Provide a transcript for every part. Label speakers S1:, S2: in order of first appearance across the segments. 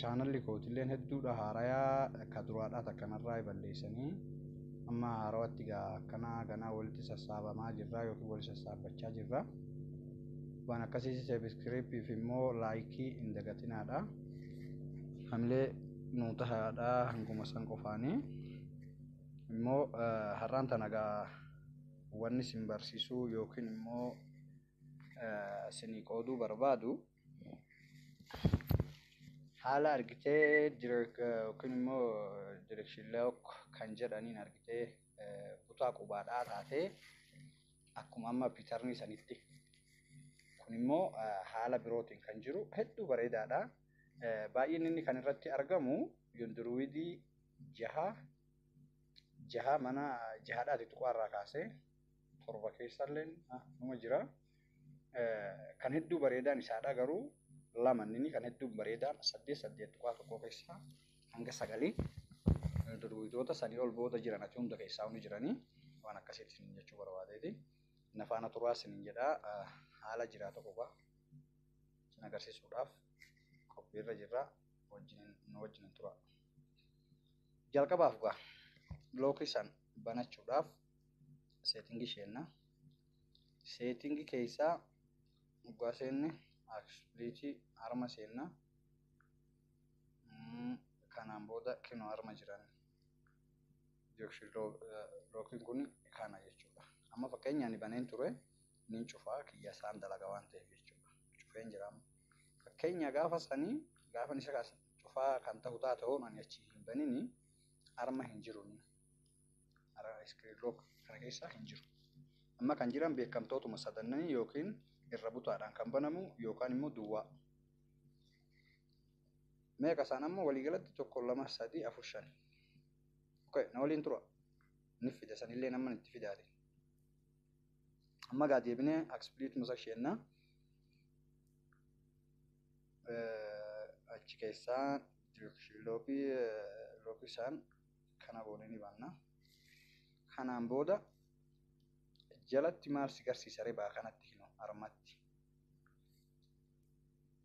S1: Chaanalli kootilleen hedduudha haarayaa ka duraadhaa takkanarraa balleessanii amma haarawatti gaa akkanaa ganaa walitti sassaabamaa jirraa yookiin wali sassaabbachaa jirra. Waan akkasiis seebiskiriippiif immoo laayikii hin dagatinaadha. Hamilee nuu tahaadha hanguma san qofaanii. Immoo har'aan tana gaa wanni sin barsiisuu yookiin immoo sinii qooduu barbaadu. haala argitee yookiin immoo direction lock kan jedhaniin argitee kutaa qubaadhaa taatee akkuma amma pitarnii sanitti kun immoo haala birootiin kan jiru hedduu bareedaadha. Baay'inni inni kan irratti argamu yunduruwidii jaha jaha mana jahadhaati tuqaa irraa kaasee torba keessallee numa jira. Kan hedduu bareedaan isaadha garuu lama inni kan hedduu bareedaan saddeet saddeet tuqaa tokkoo keessaa hanga sagalii durwiitoota sanii ol booda jiran ati hunda keessaa hundi jiranii waan akkasiitti isin jechuu barbaadeeti. Na faana turaa isin jedhaa haala jiraa tokko qaa isin agarsiisuudhaaf qophiirra jirra wajjin nu wajjin turaa. Jalqabaaf gaa bilookii san banachuudhaaf seetingii seenna. Seetingii keessaa dhugaa seenne aksiliitii harma seenna. Kanaan booda kinoo harma jiran yookiin lookiin kun kana jechuudha. Amma fakkeenya ani baneen ture ni cufaa kiyya isaan dalaga waan ta'eef jechuudha. Cufeen jira amma. Fakkeenya gaafa sanii gaafa isa cufaa kan ta'u taate hoon ani achi hin banini harma hin jiru. Ara screen lock kana keessa hin jiru. Amma kan jiran beekamtootuma sadannanii yookiin irra butaadhaan kan banamu yookaan immoo duwwaa. Meeqa isaan amma waliigalatti tokko lama sadii afur shan. Okay, na waliin tura. Ni fida sanillee nama itti fidaati. Amma gaa deebinee akspiliituma isa isheenna. Achi keessaa lookii lookii isaan kana goone ni banna kanaan booda jalatti maal si garsiisa ribaa kanatti hino armatti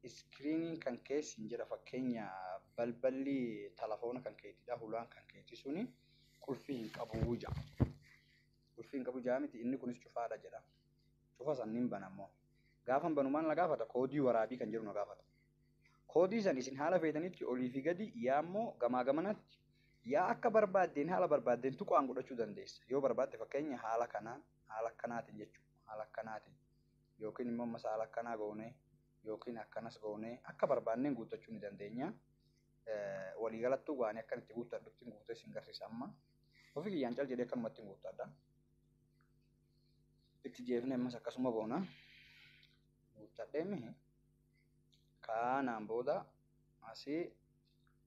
S1: iskiriiniin kan kee siin jedha fakkeenya balballi telefoona kan keetidha hulaan kan keeti suni qulfii hin qabu ja qulfii hin qabu jaa miti inni kunis cufaadha jedha cufa sanniin banammoo gaafan banu maal na gaafata koodii waraabii kan jedhu na gaafata Koodii san isin haala feetanitti olii fi gadi yaa immoo gamaa gamanatti yaa akka barbaaddeen haala barbaaddeen tuqaan godhachuu dandeessa. Yoo barbaadde fakkeenya haala kanaan haala akkanaatiin jechuudha. Haala akkanaatiin yookiin immoo ammas haala akkanaa goonee yookiin akkanas goonee akka barbaanneen guuttachuu ni dandeenya. Walii galattuu gaanii akkan itti guuttadhutti guutee isin garsiisa amma. Ofii kiyyaan cal jedhee akkanumatti guuttadha. Itti jeefnee ammas akkasuma goona. Guuttadhee mihi. Kaanaan booda asii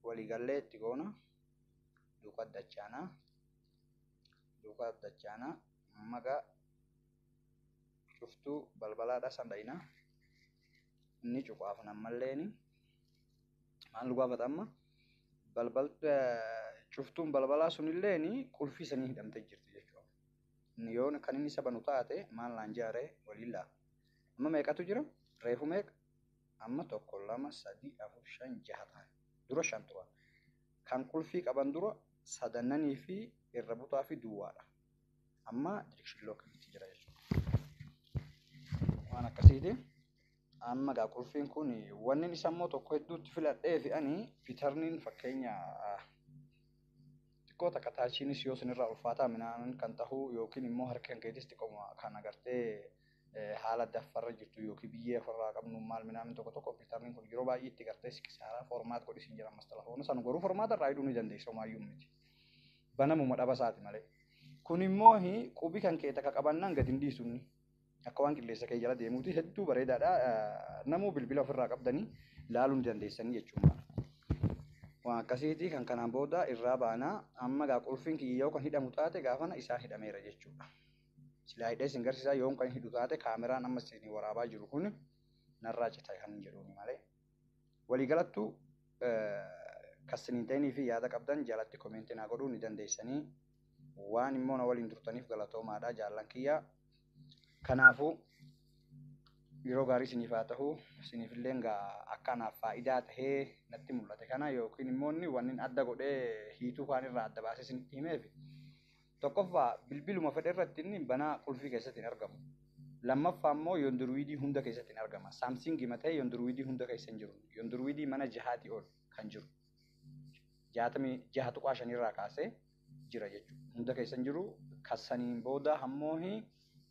S1: waliigallee itti goona. Duukaa dachaanaa. Duukaa dachaanaa. Magaa cuftuu balbalaadhaa san dhayina. Inni cufaaf nammalleen maal nu gaafata amma? Balbal cuftuun balbalaa sunilleen qulfii sanii hidhamtee jirti jechuudha. Inni yoon kan inni isa banu taate maal naan jaaree waliin laa. Amma meeqatu jira? Reefu meeqa? Amma tokko, lama, sadii, afur, shan, jaha ta'an. Dura shan turan. Kan qulfii qaban dura sadannanii fi irra butaa fi duwwaadha. Amma dirikshin lookiitti jira jechuudha. Waan akkasiiti. Amma gaa qulfiin kun wanni isa immoo tokko hedduutti filadhee fi ani pitarniin fakkeenya xiqqoo takka taachiinis yoo sinirraa ulfaataa minaan kan tahu yookiin immoo harki kan keetis xiqqoo kan agartee haala adda affarra jirtu yookiin biyyee affarraa qabnu maal minaamin tokko tokko kompiitarniin kun yeroo baay'ee itti gartee si kisaaraa formaat godhi siin jedhan mastalafoona san garuu formaata irraa hidhuu ni dandeessa homaayyuu miti banamuma dhabasaati malee kun immoo qubi kan kee takka qabannaan gadi hin dhiisu inni akka waan qilleensa kee jala deemuuti hedduu bareedaadha namuu bilbila ofirraa qabdanii laaluu ni dandeessanii jechuudha. Waan akkasiiti kan kanaan booda irraa baanaa amma gaa qulfiin kiyyoo kan hidhamu taate gaafana isaan hidhameera jechuudha. Silaa hidhee isin garsiisaa yoon kan hidhu taate kaameraan amma isin waraabaa jiru kun narraa cita kan hin jedhuuni malee. Waliigalattu kan isin hin ta'inii fi yaada qabdan jalatti komeentii naa godhuu ni dandeessanii. Waan immoo na waliin turtaniif galatoomaadha jaallan kiyya. Kanaafuu yeroo gaarii isiniif haa ta'u isiniif illee akka anaaf faayidaa tahee natti mul'ate kana yookiin immoo inni wanni adda godhee hiituu kaan irraa adda baasee isinitti himeef Tokkoffaa, bilbiluma fedhe irratti inni banaa qulfii keessatti hin argamu. Lammaffaa immoo yondurwiidii hunda keessatti hin argama. Saamsiingi ma ta'ee yondurwiidii hunda keessa hin jiru. Yondurwiidii mana jahaatii ol kan jiru 66.5 irraa kaasee jira jechuudha. Hunda keessa hin jiru. Kan saniin booda hammoohi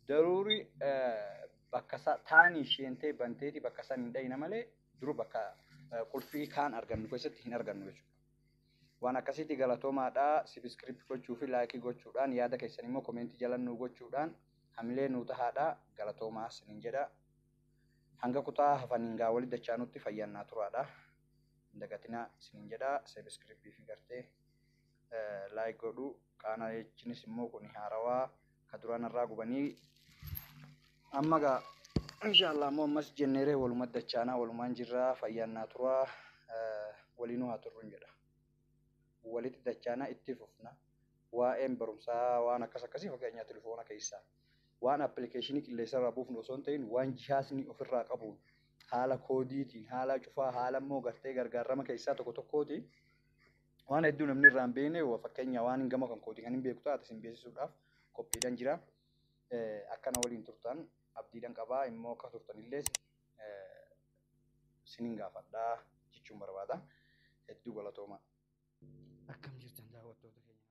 S1: daruuri bakka isaa taanii sheentee banteeti bakka san hin dhayina malee duru bakka qulfii kaan argannu keessatti hin argannu jechuudha. Waan akkasiiti galatoomaadha sibiscirip gochuu fi like gochuudhaan yaada keessan immoo komeenti jalan nuu gochuudhaan hamilee nuu tahaadha galatoomaa sinin jedha hanga kutaa hafaniin gaa wali dachaanutti fayyaan naa turaadha hin dagatinaa sinin jedha sibiscirip fi gartee like godhu kaana jechinis immoo kun haarawaa ka duraan irraa gubanii amma gaa inshaallah ammoo ammas jenneeree waluma dachaanaa walumaan jirraa fayyaan naa turaa waliinuu haa turrun jedha walitti dachaanaa itti fufna waa'een barumsaa waan akkas akkasii fakkeenyaa telefoona keessaa waan appilikeeshinii qilleensarraa buufnu osoo hin ta'in waan jihaasni ofirraa qabuun haala koodiitiin haala cufaa haala immoo gartee gargaarama keessaa tokko tokkootiin Waan hedduu namni irraa hin beekne fakkeenya waan gama kan kooti kan hin beeku taate isin beeksisuudhaaf qophiidhaan jira. Akkana waliin turtan abdiidhaan qabaa immoo akka turtanillee isinin gaafadhaa jechuun barbaada. Hedduu galatoomaa. Akkam jirtan daawwattoota keenya.